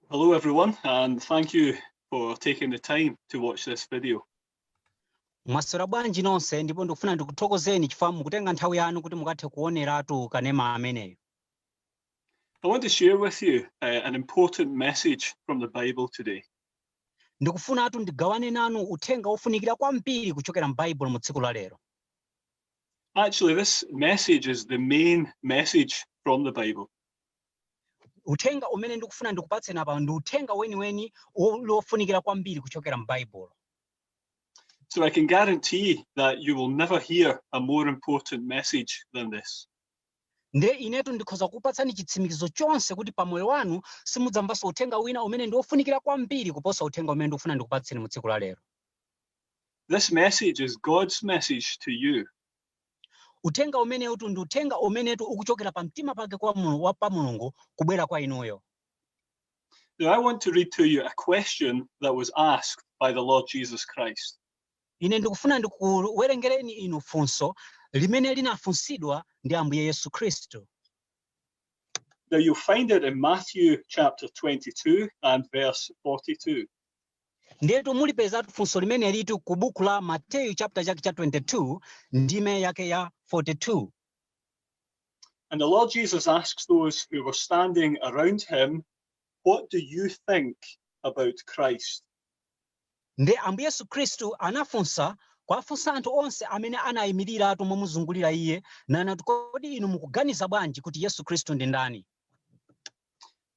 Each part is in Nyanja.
Hello everyone and thank you for taking the time to watch this video. mwaswera bwanji nonse ndipo ndikufuna ndikuthokozeni chifukwa mukutenga nthawi yanu kuti mukathe kuoneratu kanema ameneyo I want to share with you uh, an important message from the Bible today. ndikufunatu ndigawane nanu uthenga wofunikira kwambiri kuchokera m'baibulo mu tsiku la lero Actually, this message is the main message from the Bible. uthenga umene ndikufuna ndikupatseni apa ndi uthenga weniweni wofunikira kwambiri kuchokera m'baibulo So I can guarantee that you will never hear a more important message than this. nde inetu ndikhoza kupatsani chitsimikizo chonse kuti pa moyo wanu simudzamvanso uthenga wina umene ndi wofunikira kwambiri kuposa uthenga umene ndikufuna ndikupatseni mu tsiku la lero This message is God's message to you. Uthenga umenetu ndi uthenga umenetu ukuchokera pamtima pake pa Mulungu kubwera kwa inuyo. Now, I want to read to you a question that was asked by the Lord Jesus Christ. Ine ndikufuna ndikuwerengereni inu funso limene linafunsidwa ndi Ambuye Yesu Khristu. Now, you'll find it in Matthew chapter 22 and verse 42. Ndiyetu mulipezatu funso limenelitu ku buku la Mateyu chapter chake cha 22 ndime yake ya 42. And the Lord Jesus asks those who were standing around him, What do you think about Christ? Nde Ambuye Yesu Khristu anafunsa kwafunsa anthu onse amene anayimirira momuzungulira iye nanati kodi inu mukuganiza bwanji kuti yesu khristu ndi ndani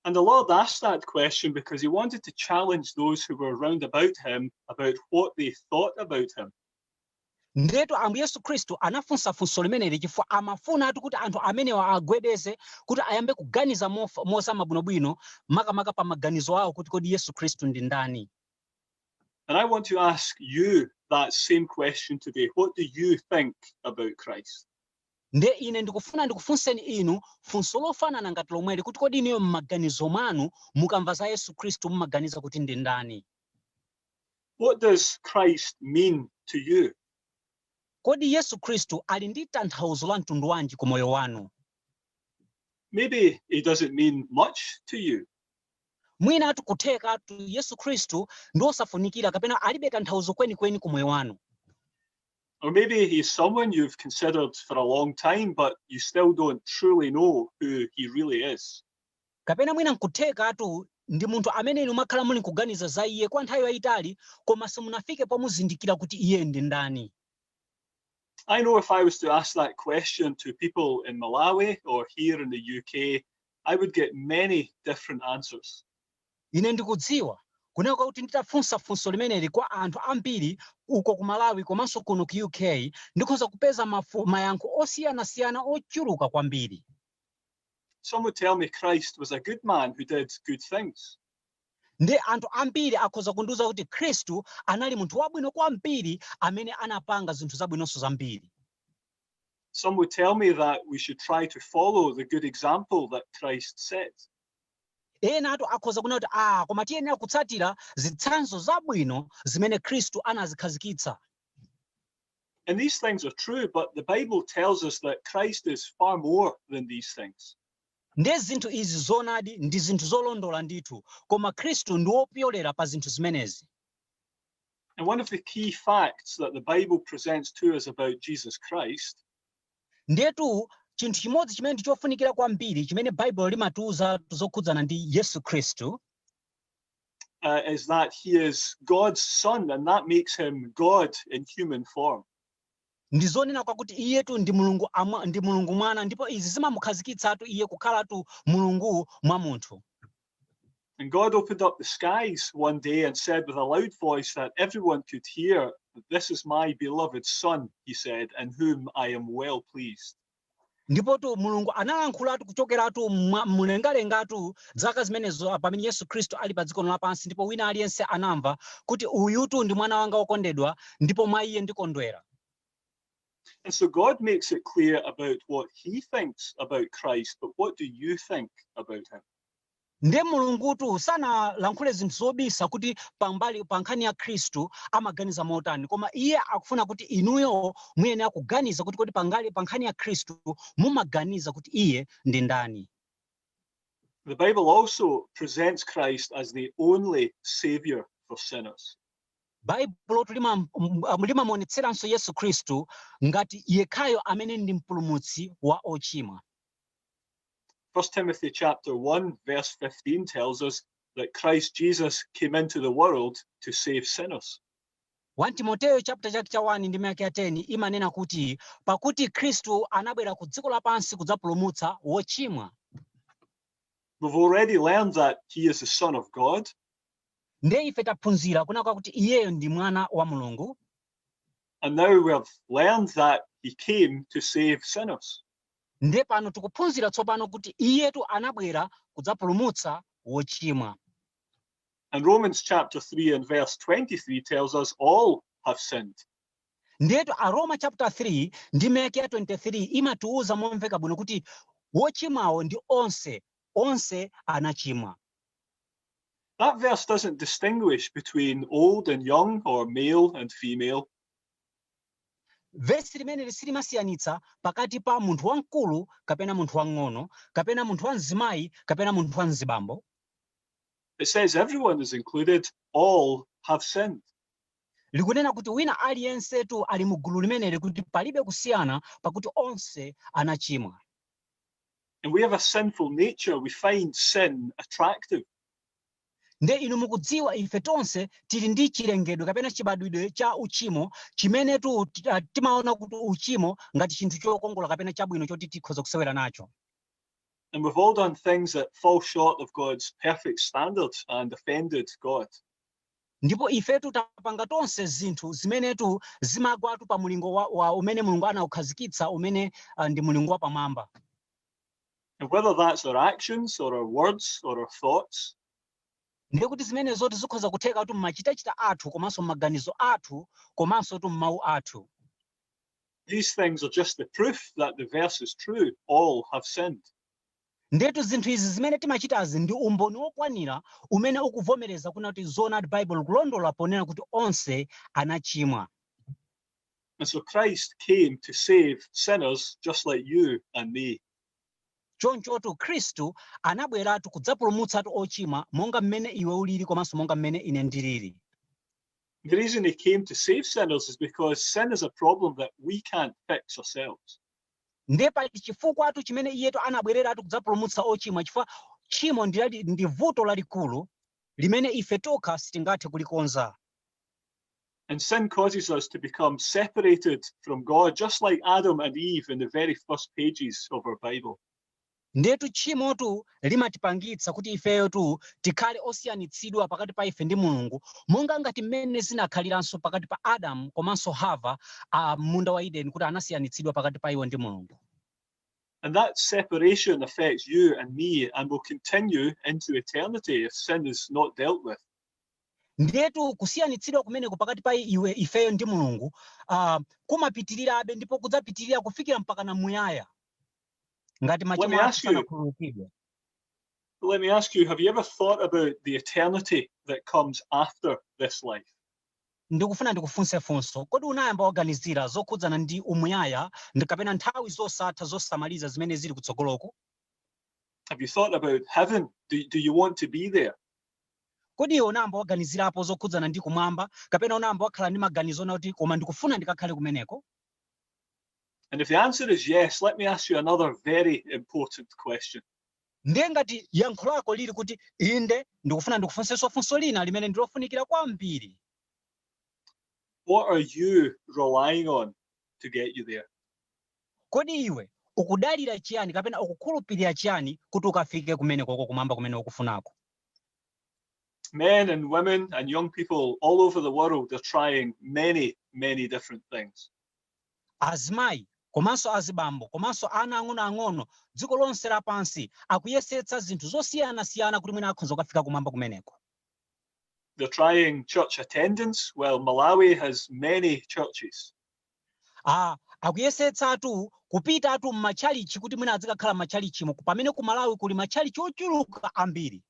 And the Lord asked that question because he wanted to challenge those who were round about him about what they thought about him. ndiyetu ambuye yesu khristu anafunsa funso limeneli chifukwa amafunatu kuti anthu amenewa agwedeze kuti ayambe kuganiza mof- mozama bwinobwino makamaka pa maganizo awo kuti kodi yesu khristu ndi ndani And I want to ask you that same question today. What do you think about Christ? Ndiye ine ndikufuna ndikufunseni inu funso lofanana ngati lomweli, kuti kodi inuyo mmaganizo mwanu, mukamva za Yesu Khristu, mumaganiza kuti ndi ndani? What does Christ mean to you? Kodi Yesu Khristu ali ndi tanthauzo la mtundu wanji ku moyo wanu? Maybe he doesn't mean much to you. Mwinatu kuthekatu Yesu Khristu ndi wosafunikira kapena alibe tanthauzo kwenikweni ku moyo wanu. or maybe he's someone you've considered for a long time, but you still don't truly know who he really is. kapena mwina nkuthekatu ndi munthu amene inu mwakhala muli nkuganiza za iye kwa nthawi yayitali koma simunafike pomuzindikira kuti iye ndi ndani I know if I was to ask that question to people in Malawi or here in the UK, I would get many different answers. Ine ndikudziwa, kunena kwa kuti nditafunsa funso limeneli kwa anthu ambiri uko ku Malawi komanso kuno ku UK, ndikhoza kupeza mafu, mayankho osiyanasiyana ochuluka kwambiri. Some would tell me Christ was a good man who did good things. Ndi anthu ambiri akhoza kundiuza kuti Khristu anali munthu wabwino kwambiri amene anapanga zinthu zabwinonso zambiri. Some would tell me that we should try to follow the good example that Christ set. Enatu akhoza kunena kuti, Ah, koma tiyenera kutsatira zitsanzo zabwino zimene Khristu anazikhazikitsa. And these things are true, but the Bible tells us that Christ is far more than these things. Ndiye zinthu izi zoonadi ndi zinthu zolondola ndithu, koma Khristu ndi wopyolera pa zinthu zimenezi. And one of the key facts that the Bible presents to us about Jesus Christ Ndiyetu chinthu chimodzi chimene ndi chofunikira kwambiri chimene Baibulo limatiuzatu zokhudzana ndi Yesu Khristu uh, is that he is God's son and that makes him God in human form. ndi zonena kwakuti iyetu ndi mulungu amwa, ndi mulungu mwana ndipo izi zimamukhazikitsatu iye kukhalatu mulungu mwa munthu And God opened up the skies one day and said with a loud voice that everyone could hear, This is my beloved Son, he said, in whom I am well pleased. ndipotu mulungu analankhulatu kuchokeratu mwa- mlengalengatu zaka zimenezo pamene yesu khristu ali pa dziko lino lapansi ndipo wina aliyense anamva kuti uyutu ndi mwana wanga wokondedwa ndipo mwa iye ndikondwera And so God makes it clear about what he thinks about Christ, but what do you think about him? nde mulungutu sanalankhule zinthu zobisa kuti pambali pa nkhani ya khristu amaganiza motani koma iye akufuna kuti inuyo muyenera kuganiza kuti kodi pambali pa nkhani ya khristu mumaganiza kuti iye ndi ndani The Bible also presents Christ as the only savior for sinners. baibulotu lima- m- m- limamuonetseranso yesu khristu ngati yekhayo amene ndi mpulumutsi wa ochimwa 1 Timothy chapter 1, verse 15 tells us that Christ Jesus came into the world to save sinners. 1 Timoteyo chapter chake cha 1 ndime yake ya 10 imanena kuti pakuti Khristu anabwera ku dziko lapansi kudzapulumutsa wochimwa. We've already learned that he is the son of God. Ndiye ife taphunzira kunena kuti iyeyo ndi mwana wa Mulungu. And now we have learned that he came to save sinners. Ndiye pano tikuphunzira tsopano kuti iyetu anabwera kudzapulumutsa wochimwa. And Romans chapter 3 and verse 23 tells us all have sinned. Ndiyetu Aroma chapter 3 ndime yake ya 23 imatiuza momveka bwino kuti wochimwawo ndi onse, onse anachimwa. That verse doesn't distinguish between old and young or male and female. Vesi limeneli silimasiyanitsa pakati pa munthu wamkulu kapena munthu wamng'ono, kapena munthu wamzimayi kapena munthu wamzibambo. It says everyone is included, all have sinned. Likunena kuti wina aliyensetu ali mu gulu limeneli kuti palibe kusiyana pakuti onse anachimwa. And we have a sinful nature. We find sin attractive. Ndiye inu mukudziwa, ife tonse tili ndi chilengedwe kapena chibadwidwe cha uchimo, chimenetu, ti- ah, timaona kuti uchimo ngati chinthu chokongola kapena chabwino choti tikhoza kusewera nacho. And we've all done things that fall short of God's perfect standard and offended God. ndipo ifetu tapanga tonse zinthu zimenetu zimagwatu pa mulingo wa, wa umene mulungu anaukhazikitsa umene uh, ndi mulingo wapamwamba And whether that's our actions or our words or our thoughts, ndiye kuti zimenezotu zikhoza kutheka kuti mmachitachita athu komanso mmaganizo athu komansotu mmawu athu these things are just the proof that the verse is true. All have sinned. ndetu zinthu izi zimene timachitazi ndi umboni wokwanira umene ukuvomereza kunena kuti zoonadi baibulo likulondola ponena kuti onse anachimwa And so Christ came to save sinners just like you and me. chonchotu khristu anabweratu kudzapulumutsatu ochimwa monga mmene iwe ulili komanso monga mmene ine ndilili The reason he came to save sinners is because sin is a problem that we can't fix ourselves. ndiye pali chifukwatu chimene iyetu anabwereratu kudzapulumutsa ochimwa chifukwa tchimo ndi lali- ndi vuto lalikulu limene ife tokha sitingathe kulikonza And sin causes us to become separated from God, just like Adam and Eve in the very first pages of our Bible. ndiyetu tchimotu limatipangitsa kuti ifeyotu tikhale osiyanitsidwa pakati pa ife ndi mulungu monga ngati mmene zinakhaliranso pakati pa adamu komanso hava a m'munda wa edeni kuti anasiyanitsidwa pakati pa iwo ndi mulungu And that separation affects you and me and will continue into eternity if sin is not dealt with. Ndiyetu kusiyanitsidwa kumeneko pakati pa iwe, ifeyo ndi Mulungu ah, kumapitirirabe ndipo kudzapitirira kufikira mpaka na muyaya ngati machimo athu sanakhululukidwe. let me ask you, have you ever thought about the eternity that comes after this life? Ndikufuna ndikufunse funso, kodi unayamba waganizira zokhudzana ndi umuyaya ndi kapena nthawi zosatha zosamaliza zimene zili kutsogoloko? Have you thought about heaven? Do you want to be there? Kodi iwe unayamba waganizirapo zokhudzana ndi kumwamba kapena unayamba wakhala ndi maganizo onena kuti koma ndikufuna ndikakhale kumeneko? And if the answer is yes, let me ask you another very important question. Ndiye ngati yankho lako lili kuti inde, ndikufuna ndikufunsenso funso lina limene ndi lofunikira kwambiri. What are you relying on to get you there? Kodi iwe ukudalira chiyani kapena ukukhulupirira chiyani kuti ukafike kumenekoko, Kumwamba kumene ukufunako? Men and women and young people all over the world are trying many, many different things. Azimayi komanso azibambo komanso ana ang'onoang'ono dziko lonse lapansi akuyesetsa zinthu zosiyanasiyana kuti mwina akhoza kukafika kumwamba kumeneko. They're trying church attendance. Well, Malawi has many churches. a akuyesetsatu kupitatu m'matchalitchi kuti mwina azikakhala m'matchalitchimo pamene ku malawi kuli matchalitchi ochuluka ambiri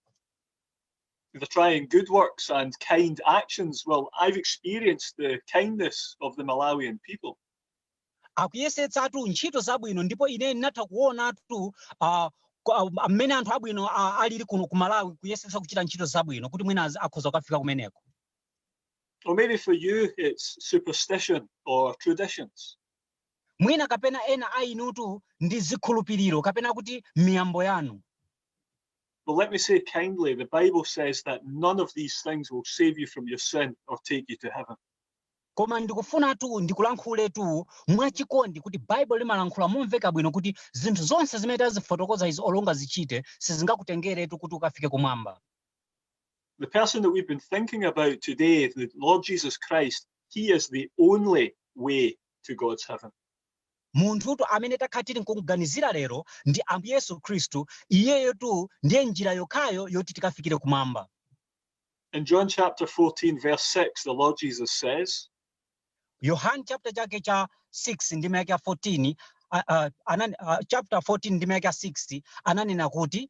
They're trying good works and kind actions. Well, I've experienced the kindness of the Malawian people. akuyesetsatu ntchito zabwino ndipo ine ndinatha kuonatu ah, ku- ah, mmene anthu abwino ah, alili kuno ku malawi kuyesetsa kuchita ntchito zabwino kuti mwina azi- akhoza kukafika kumeneko Or maybe for you, it's superstition or traditions. mwina kapena ena a inutu ndi zikhulupiriro kapena kuti miyambo yanu But let me say kindly, the Bible says that none of these things will save you from your sin or take you to heaven. koma ndikufunatu ndikulankhuletu mwachikondi kuti baibulo limalankhula momveka bwino kuti zinthu zonse zimene tazifotokoza izi olo ungazichite sizingakutengeretu kuti ukafike kumwamba The person that we've been thinking about today, the Lord Jesus Christ, he is the only way to God's heaven. munthutu amene takhala tili nkumuganizira lero ndi ambuye yesu khristu iyeyotu ndiye njira yokhayo yoti tikafikire kumwamba In John chapter 14, verse 6, the Lord Jesus says, yohane chapter chake cha 6 ndime yake ya 14 ah, ah, anani- ah, chapter 14 ndime yake ya 6 ananena kuti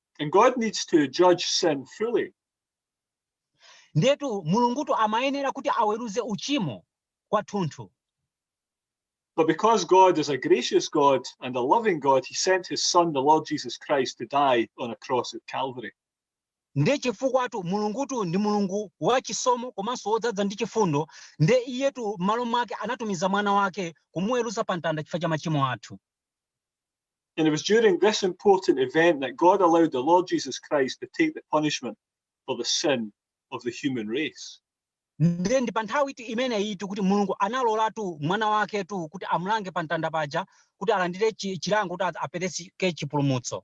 And God needs to judge sin fully. ndetu mulungutu amayenera kuti aweruze uchimo kwathunthu But because God is a gracious God and a loving God, he sent his son, the Lord Jesus Christ, to die on a cross of Calvary. nde chifukwatu mulungutu ndi mulungu wachisomo komanso wodzadza ndi chifundo nde iyetu m'malo mwake anatumiza mwana wake kumuweruza pa mtanda chifukwa cha machimo athu And it was during this important event that God allowed the Lord Jesus Christ to take the punishment for the sin of the human race. ndiye ndi pa nthawitu imeneyitu kuti mulungu analolatu mwana waketu kuti amulange pa mtanda paja kuti alandire chi- chilango kuti a- apereke chipulumutso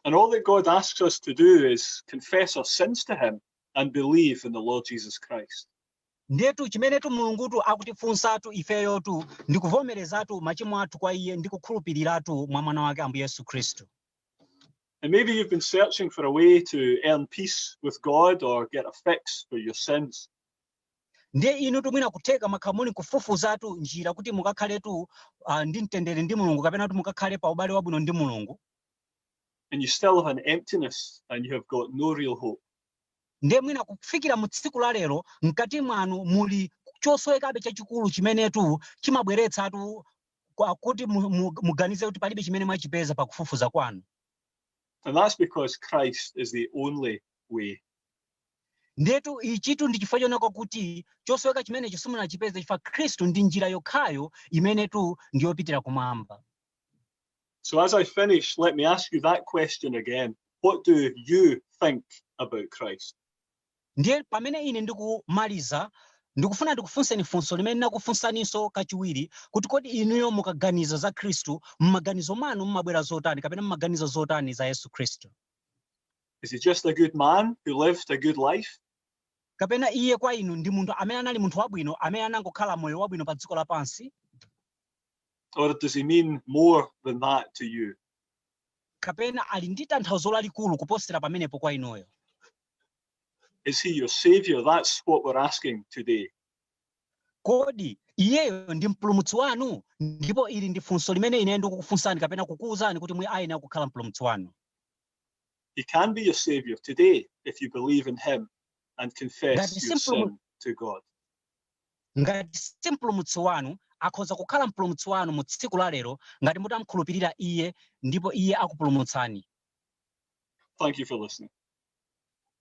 And all that God asks us to do is confess our sins to Him and believe in the Lord Jesus Christ. Ndiyetu chimenetu Mulungutu akutifunsatu ifeyotu ndi kuvomerezatu machimo athu kwa iye ndi kukhulupiriratu mwa mwana wake Ambuye Yesu Khristu. And maybe you've been searching for a way to earn peace with God or get a fix for your sins. Ndiye inutu mwina kutheka mwakhala muli kufufuzatu njira kuti mukakhaletu ah, ndi mtendere ndi Mulungu kapena kuti mukakhale pa ubale wabwino ndi Mulungu. And you still have an emptiness and you have got no real hope. Ndiye mwina kufikira mu tsiku la lero, mkati mwanu muli chosowekabe chachikulu chimenetu chimabweretsatu kuti mu- mu- muganize kuti palibe chimene mwachipeza pa kufufuza kwanu. And that's because Christ is the only way. Ndetu ichitu ndi chifukwa chonena kuti chosoweka chimenecho simunachipeza chifukwa Khristu ndi njira yokhayo imenetu ndiyopitira kumwamba. So as I finish, let me ask you that question again. What do you think about Christ? ndiye pamene ine ndikumaliza ndikufuna ndikufunseni funso limene ndinakufunsaninso kachiwiri kuti kodi inuyo mukaganiza za khristu m'maganizo mwanu mumabwera zotani kapena mumaganiza zotani za yesu khristu Is he just a good man who lived a good life? kapena iye kwa inu ndi munthu amene anali munthu wabwino amene anangokhala moyo wabwino pa dziko lapansi Or does he mean more than that to you? kapena ali ndi tanthauzo lalikulu kuposera pamenepo kwa inuyo Is he your savior? That's what we're asking today. kodi iyeyo ndi mpulumutsi wanu ndipo ili ndi funso limene ine ndikukufunsani kapena kukuwuzani kuti Iye ayenera kukhala mpulumutsi wanu He can be your savior today if you believe in him and confess your sin to God. Ngati si Mpulumutsi wanu, akhoza kukhala Mpulumutsi wanu mu tsiku la lero ngati mutamkhulupirira Iye ndipo Iye akupulumutsani. Thank you for listening.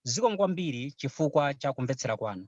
Zikomo kwambiri chifukwa cha kumvetsera kwanu.